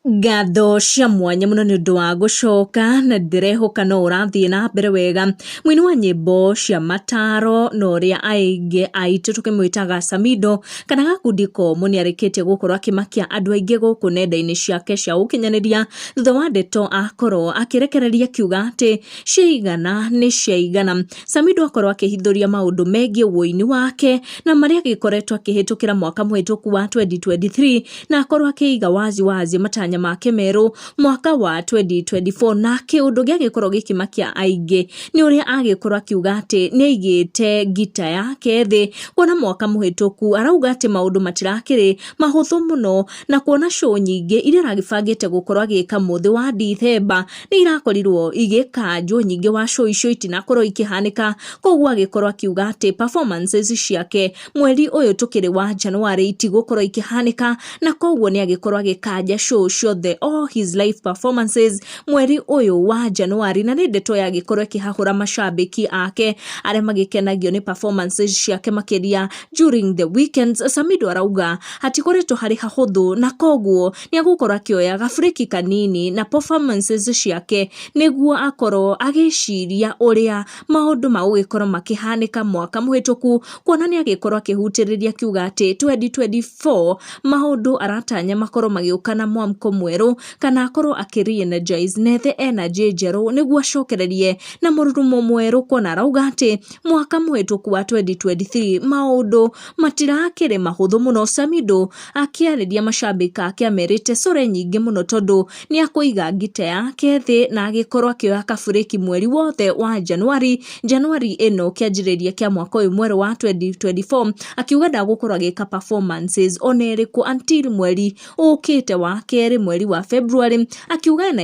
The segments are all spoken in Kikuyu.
Ngatho cia mwanya mũno nĩ ũndũ wa gũcoka na ndĩrehoka no ũrathiĩ na mbere wega. Mũini wa nyĩmbo cia mataro na ũrĩa aingĩ aitũ tũkĩmwĩtaga Samido kana gakundi komũ nĩ arĩkĩtie gũkorwo akĩmakia andũ aingĩ gũkũ nenda-inĩ ciake cia ũkinyanĩria thutha wa ndeto akorwo akĩrekereria akiuga atĩ ciaigana nĩ ciaigana. Samido akorwo akĩhithũria maũndũ megiĩ ũini wake na marĩa agĩkoretwo akĩhĩtũkĩra mwaka mũhĩtũku wa 2023 na akorwo akĩiga wazi wazi matanya make merũ mwaka wa 2024 na kĩũndũ gĩagĩkorwo gĩkĩmakia aingĩ nĩ ũrĩa agĩkorwo akiuga atĩ nĩ aigĩte ngita yake thĩ kuona mwaka mũhĩtũku arauga atĩ maũndũ matirakĩrĩ mahũthũ mũno na kuona show nyingĩ iria aragĩbangĩte gũkorwo agĩka mũthĩ wa Dithemba nĩ irakorirwo igĩkanjwo nyingĩ wa show icio itinakorwo ikĩhanĩka koguo agĩkorwo akiuga atĩ performances ciake mweri ũyũ tũkĩrĩ wa January itigũkorwo ikĩhanĩka na koguo nĩ agĩkorwo agĩkanja show ciothe all his live performances mweri ũyũ wa January na nĩ ndeto yagĩkorwo ĩkĩhahũra macambĩki ake arĩa magĩkenagio nĩ performances ciake makĩria during the weekends Samido arauga hatikoretwo harĩ hahũthũ na koguo nĩ egũkorwo akĩoya ga break kanini na performances ciake nĩguo akorwo agĩciria ũrĩa maũndũ magũgĩkorwo makĩhanĩka mwaka mũhĩtũku kuona nĩ agĩkorwo akĩhutĩrĩria akiuga atĩ 2024 maũndũ aratanya makorwo magĩũka na mwamko mwerũ kana akorwo akĩ re-energize na ethe energy njerũ nĩguo acokererie na mũrurumo mwerũ kuona arauga atĩ mwaka mũhĩtũku wa 2023 maũndũ matirakĩrĩ mahũthũ mũno Samido Akĩarĩria macambĩki ake amerite core nyingĩ mũno tondũ nĩ akũiga ngita yake thĩ na agĩkorwo akĩoya kaburĩki mweri wothe wa Januari, Januari ĩno kĩanjĩrĩria kĩa mwaka ũyũ mwerũ wa 2024 akiuga ndagũkorwo agĩka performances ona ĩrĩkũ until mweri ũkĩte wa kerĩ mweri wa February akiuga na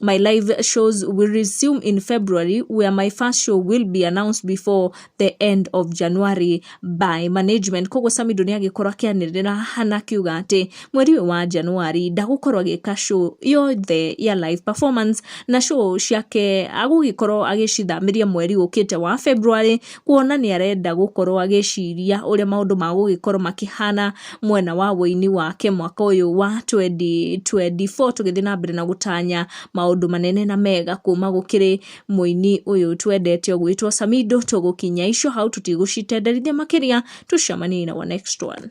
my live shows will resume in February, where my first show will be announced before the end of January by management. Koguo Samido nĩ agĩkorwo akĩanĩrĩra hana akiuga atĩ mweri ũyũ wa Januari ndagũkorwo agĩka show yothe ya live performance na show ciake agũgĩkorwo agĩcithamĩria mweri ũkĩte wa February kuona nĩ arenda gũkorwo agĩciria ũrĩa maũndũ magũgĩkorwo makĩhana mwena wa ũini wake mwaka ũyũ wa 2024 tũgĩthiĩ na mbere na gũtanya maũndũ manene na mega kuma gũkĩrĩ mũini ũyũ twendete ũgwĩtwo Samido. Tũgũkinya ico hau tũtigũcitenderithia makĩria, tũcemanie in our next one.